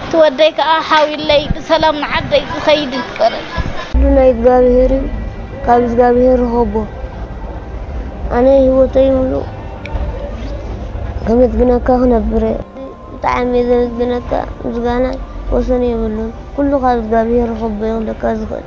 እቲ ወደይ ከኣ ሓውዩለይ ብሰላም ንዓደይ ዝከይድ ይግበረለይ። ኩሉ ናይ እግዛብሄር እዩ ካብ እዝጋብሄር ርኸቦ ኣነ ሂወተይ ሙሉእ ከመስግነካ ክነብር እየ ብጣዕሚ እየ ዘመስግነካ ምስጋናይ ወሰን የብሉን ኩሉ ካብ እዝጋብሄር ርኸቦ እዩ ክብለካ ዝኽእል።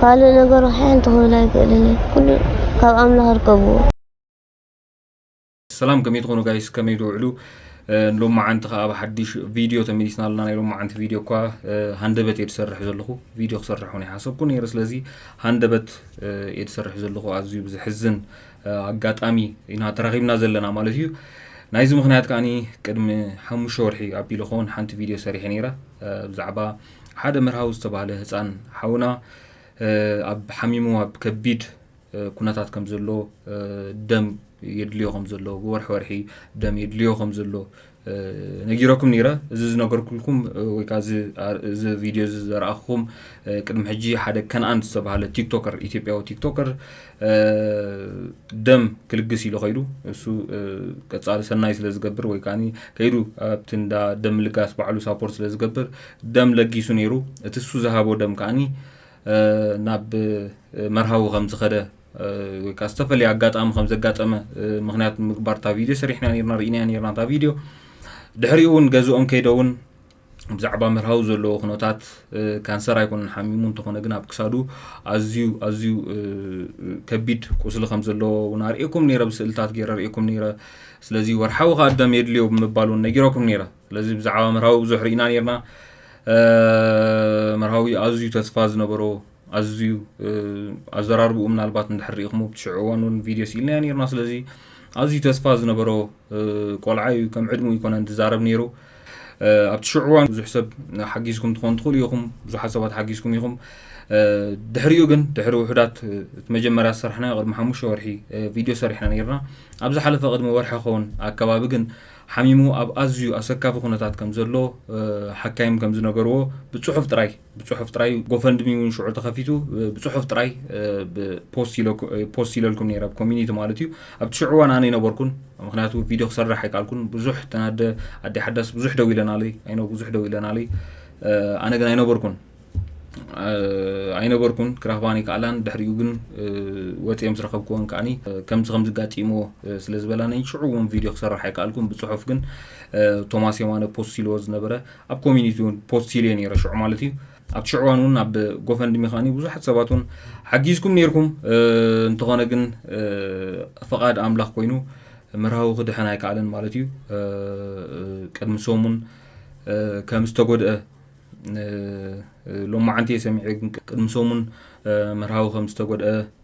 ካልእ ነገር ሓንቲ ክብል ኣይክእልን ኩሉ ካብ ኣምላኽ ርከብዎ ሰላም ከመይ ትኾኑ ጋይስ ከመይ ትውዕሉ ሎም መዓንቲ ከዓ ኣብ ሓድሽ ቪድዮ ተመሊስና ኣለና ናይ ሎም መዓንቲ ቪድዮ እኳ ሃንደበት እየ ዝሰርሕ ዘለኹ ቪድዮ ክሰርሕ ውን ይሓሰብኩ ነይረ ስለዚ ሃንደበት እየ ዝሰርሕ ዘለኹ ኣዝዩ ብዘሕዝን ኣጋጣሚ ኢና ተራኺብና ዘለና ማለት እዩ ናይዚ ምክንያት ከዓኒ ቅድሚ ሓሙሽተ ወርሒ ኣቢሉ ኸውን ሓንቲ ቪድዮ ሰሪሐ ነይረ ብዛዕባ ሓደ መርሃዊ ዝተባህለ ህፃን ሓውና ኣብ ሓሚሙ ኣብ ከቢድ ኩነታት ከም ዘሎ ደም የድልዮ ከም ዘሎ ብወርሒ ወርሒ ደም የድልዮ ከም ዘሎ ነጊረኩም ነይረ እዚ ዝነገርኩልኩም ወይ ከዓ እዚ ቪድዮ እዚ ዘረኣኹም ቅድሚ ሕጂ ሓደ ከነኣን ዝተባሃለ ቲክቶከር ኢትዮጵያዊ ቲክቶከር ደም ክልግስ ኢሉ ከይዱ እሱ ቀፃሊ ሰናይ ስለ ዝገብር ወይ ከዓ ከይዱ ኣብቲ እንዳ ደም ልጋስ ባዕሉ ሳፖርት ስለ ዝገብር ደም ለጊሱ ነይሩ እቲ እሱ ዝሃቦ ደም ከዓኒ ናብ መርሃዊ ከም ዝኸደ ወይ ከዓ ዝተፈለየ ኣጋጣሚ ከም ዘጋጠመ ምክንያት ምግባር እታ ቪድዮ ሰሪሕና ርና ርኢና ርና እታ ቪድዮ ድሕሪኡ እውን ገዝኦም ከይደ እውን ብዛዕባ ምርሃዊ ዘለዎ ኩነታት ካንሰር ኣይኮነን ሓሚሙ እንተኾነ ግን ኣብ ክሳዱ ኣዝዩ ኣዝዩ ከቢድ ቁስሊ ከም ዘለዎ እውን ኣርእኩም ነረ ብስእልታት ገይረ ርእኩም ነረ ስለዚ ወርሓዊ ከዓ ደም የድልዮ ብምባል እውን ነጊረኩም ነረ ስለዚ ብዛዕባ ምርሃዊ ብዙሕ ርኢና ነርና ምርሃዊ ኣዝዩ ተስፋ ዝነበሮ ኣዝዩ ኣዘራርብኡ ምናልባት እንድሕር ርኢኹም ኣብቲ ሽዑ እዋን እውን ቪድዮ ስኢልናዮ ነርና ስለዚ ኣዝዩ ተስፋ ዝነበሮ ቆልዓ እዩ ከም ዕድሙ ይኮነን ዝዛረብ ነይሩ ኣብቲ ሽዑ እዋን ብዙሕ ሰብ ሓጊዝኩም ትኾኑ ትኽእሉ ኢኹም ብዙሓት ሰባት ሓጊዝኩም ኢኹም ድሕሪኡ ግን ድሕሪ ውሑዳት እቲ መጀመርያ ዝሰራሕናዮ ቅድሚ ሓሙሽተ ወርሒ ቪድዮ ሰሪሕና ነርና ኣብ ዝሓለፈ ቅድሚ ወርሒ ኸውን ኣከባቢ ግን ሓሚሙ ኣብ ኣዝዩ ኣሰካፊ ኩነታት ከም ዘሎ ሓካይም ከም ዝነገርዎ ብፅሑፍ ጥራይ ብጽሑፍ ጥራይ ጎፈንድሚ እውን ሽዑ ተኸፊቱ ብጽሑፍ ጥራይ ፖስት ኢለልኩም ነይረ ኣብ ኮሚኒቲ ማለት እዩ ኣብቲ ሽዑ እዋን ኣነ ኣይነበርኩን ምክንያቱ ቪድዮ ክሰርሕ ኣይከኣልኩን ብዙሕ ተናደ ኣዲ ሓዳስ ብዙሕ ደው ኢለናለይ ኣይነ ብዙሕ ደው ኢለናለይ ኣነ ግን ኣይነበርኩን ኣይነበርኩን ክረኽባን ይከኣላን ድሕሪኡ ግን ወፂኦም ዝረኸብክዎን ከዓኒ ከምዚ ከም ዝጋጢሞ ስለ ዝበላነይ ሽዑ እውን ቪድዮ ክሰርሕ ኣይከኣልኩን ብፅሑፍ ግን ቶማስ የማነ ፖስት ኢልዎ ዝነበረ ኣብ ኮሚኒቲ ውን ፖስት ኢለ ነረ ሽዑ ማለት እዩ ኣብቲ ሽዑ እዋን እውን ኣብ ጎፈንድሚ ከዓኒ ብዙሓት ሰባት እውን ሓጊዝኩም ነርኩም እንተኾነ ግን ፈቓድ ኣምላኽ ኮይኑ ምርሃዊ ክድሕን ኣይከኣለን ማለት እዩ ቅድሚ ሰሙን ከም ዝተጎድአ ሎማዓንቲ እየ ሰሚዐ ግን ቅድሚ ሰሙን ምርሃዊ ከም ዝተጎድአ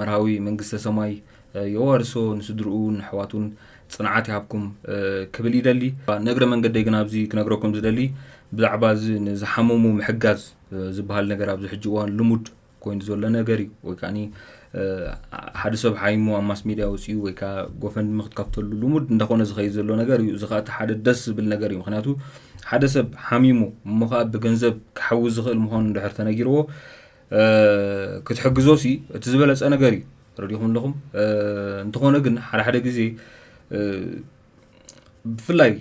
መርሃዊ መንግስተ ሰማይ የዋርሶ ንስድርኡ ንኣሕዋቱን ፅንዓት ይሃብኩም ክብል ይደሊ ንእግረ መንገደይ ግን ኣብዚ ክነግረኩም ዝደሊ ብዛዕባ እዚ ንዝሓመሙ ምሕጋዝ ዝበሃል ነገር ኣብዚ ሕጂ እዋን ልሙድ ኮይኑ ዘሎ ነገር እዩ ወይ ከዓ ሓደ ሰብ ሓይሞ ኣብ ማስ ሜድያ ወፅኡ ወይ ከዓ ጎፈንድሚ ክትከፍተሉ ልሙድ እንዳኾነ ዝኸይድ ዘሎ ነገር እዩ እዚ ከዓ እቲ ሓደ ደስ ዝብል ነገር እዩ ምክንያቱ ሓደ ሰብ ሓሚሙ እሞ ከዓ ብገንዘብ ክሓዊ ዝኽእል ምዃኑ እንድሕር ተነጊርዎ ክትሕግዞ ሲ እቲ ዝበለፀ ነገር እዩ ረዲኹም ኣለኹም እንተኾነ ግን ሓደ ሓደ ግዜ ብፍላይ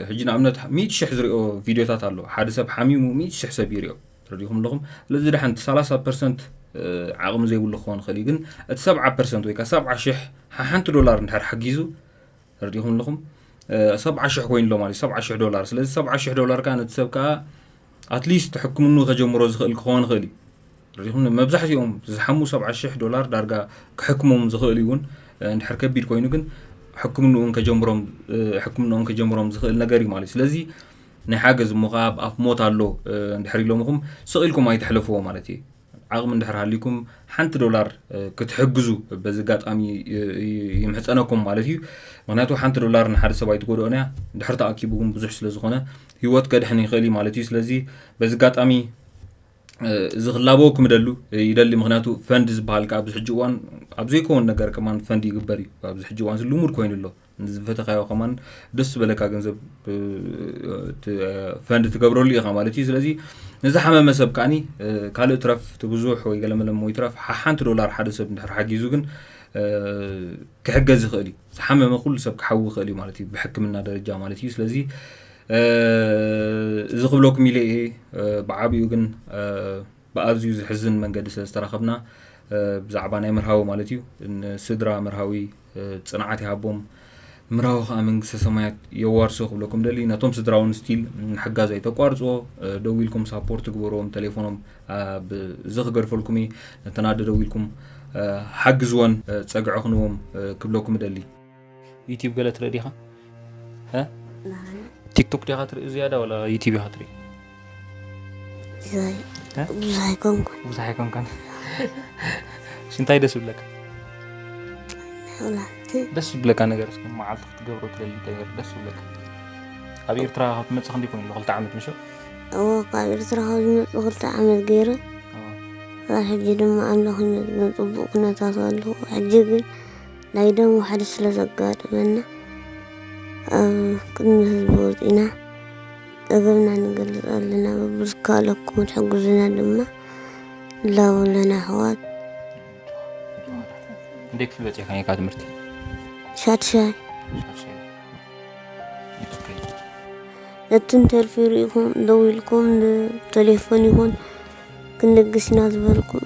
ሕጂ ንኣብነት ሚእቲ ሽሕ ዝሪኦ ቪድዮታት ኣሎ ሓደ ሰብ ሓሚሙ ሚእቲ ሽሕ ሰብ ይሪኦ ረዲኹም ኣለኹም ስለዚ ድሓን እቲ ሰላሳ ፐርሰንት ዓቕሚ ዘይብሉ ክኸውን ይኽእል እዩ ግን እቲ ሰብዓ ፐርሰንት ወይ ከዓ ሰብዓ ሽሕ ሓንቲ ዶላር እንድሕር ሓጊዙ ረዲኹም ኣለኹም ሰብዓ ሽሕ ኮይኑሎ ማለት ሰብዓ ሽሕ ዶላር ስለዚ ሰብዓ ሽሕ ዶላር ከዓ ነቲ ሰብ ከዓ ኣትሊስት ሕክምኑ ከጀምሮ ዝኽእል ክኸውን ይኽእል እዩ ርኢኹም ዶ መብዛሕትኦም ዝሓሙ ሰብዓ ሽሕ ዶላር ዳርጋ ክሕክሞም ዝኽእል ይውን እንድሕር ከቢድ ኮይኑ ግን ሕክምንኡን ከጀምሮም ሕክምንኦም ከጀምሮም ዝኽእል ነገር እዩ ማለት ስለዚ ናይ ሓገዝ እሞ ከዓ ኣብ ኣፍ ሞት ኣሎ እንድሕር ኢሎምኹም ስቕ ኢልኩም ኣይትሕለፍዎ ማለት እዩ ዓቕሚ እንድሕር ሃልዩኩም ሓንቲ ዶላር ክትሕግዙ በዚ ኣጋጣሚ ይምሕፀነኩም ማለት እዩ ምክንያቱ ሓንቲ ዶላር ንሓደ ሰብ ኣይትጎድኦን እያ ድሕር ተኣኪቡ ግን ብዙሕ ስለ ዝኾነ ሂወት ከድሕን ይኽእል እዩ ማለት እዩ ስለዚ በዚ ኣጋጣሚ እዚ ክላበዎ ክምደሉ ይደሊ ምክንያቱ ፈንድ ዝበሃል ከዓ ኣብዚ ሕጂ እዋን ኣብ ዘይከውን ነገር ከማን ፈንድ ይግበር እዩ ኣብዚ ሕጂ እዋን ልሙድ ኮይኑ ኣሎ ዝፈተካዮ ከማን ደስ ዝበለካ ገንዘብ ፈንድ ትገብረሉ ኢኻ ማለት እዩ ስለዚ ንዝሓመመ ሰብ ከዓኒ ካልእ ትረፍ እቲ ብዙሕ ወይ ገለመለም ወይ ትረፍ ሓንቲ ዶላር ሓደ ሰብ እንድሕር ሓጊዙ ግን ክሕገዝ ይኽእል እዩ ዝሓመመ ኩሉ ሰብ ክሓዊ ይኽእል እዩ ማለት እዩ ብሕክምና ደረጃ ማለት እዩ ስለዚ እዚ ክብለኩም ኢለ እየ ብዓቢኡ ግን ብኣዝዩ ዝሕዝን መንገዲ ስለ ዝተራኸብና ብዛዕባ ናይ መርሃዊ ማለት እዩ ንስድራ መርሃዊ ፅንዓት ይሃቦም ምራዊ ከዓ መንግስተ ሰማያት የዋርሶ ክብለኩም ደሊ ነቶም ስድራውን ስቲል ምሕጋዝ ኣይተቋርፅዎ ደው ኢልኩም ሳፖርት ግበርዎም ቴሌፎኖም እዚ ክገድፈልኩም እየ ነተን ኣደ ደው ኢልኩም ሓግዝወን ፀግዒ ክንዎም ክብለኩም እደሊ ዩቲብ ገለ ትርኢ ዲኻ? ቲክቶክ ዲኻ ትርኢ ዝያዳ ወላ ዩቲብ ኢኻ ትርኢ? ብዙሕ ኣይኮንኩን ብዙሕ ኣይኮንኩን። እንታይ ደስ ይብለካ? ደስ ዝብለካ ነገር እስኪ መዓልቲ ክትገብሮ ትደሊ ነገር ደስ ዝብለካ ኣብ ኤርትራ ካብ ትመፅእ ክንደይ ኮይኑ ክልተ ዓመት ምሸ እዎ ካብ ኤርትራ ካብ ዝመፁ ክልተ ዓመት ገይረ ሕጂ ድማ ኣምላኽ ይመስገን ፅቡቅ ኩነታት ኣለኹ ሕጂ ግን ናይ ደም ዋሕዲ ስለ ዘጋጥመና ኣብ ቅድሚ ህዝቢ ወፂእና ፀገምና ንገልፅ ኣለና ብዝካለኩም ትሕግዙና ድማ ንላቦ ኣለና ኣሕዋት እንዴት ክፍል በፂሕካ ነይካ ትምህርቲ ሻድሻይ እቲ እንተልፊ ርኢኹም ደው ኢልኩም ብቴሌፎን ይኹን ክንልግስ ኢና ዝበልኩም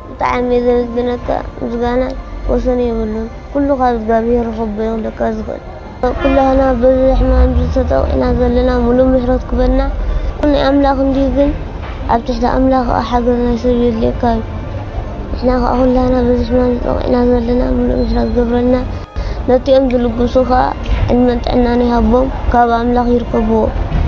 ብጣዕሚ እየ ዘመስግነካ ምስጋና ወሰን የብሉን ኩሉ ካብ እዝጋብሄር ረከቦ እየ ክብለካ ዝክእል ኩላህና በዚ ሕማም እዚ ተጠቂዕና ዘለና ሙሉእ ምሕረቱ ክበልና ኩሉ ናይ ኣምላክ እንድዩ ግን ኣብ ትሕቲ ኣምላክ ከኣ ሓገዝ ናይ ሰብ የድልየካ እዩ ንሕና ከኣ ኩላህና በዚ ሕማም እዚ ተጠቂዕና ዘለና ሙሉእ ምሕረት ክገብረልና ነቲኦም ዝልግሱ ከኣ ዕድመን ጥዕናን ይሃቦም ካብ ኣምላክ ይርከብዎ።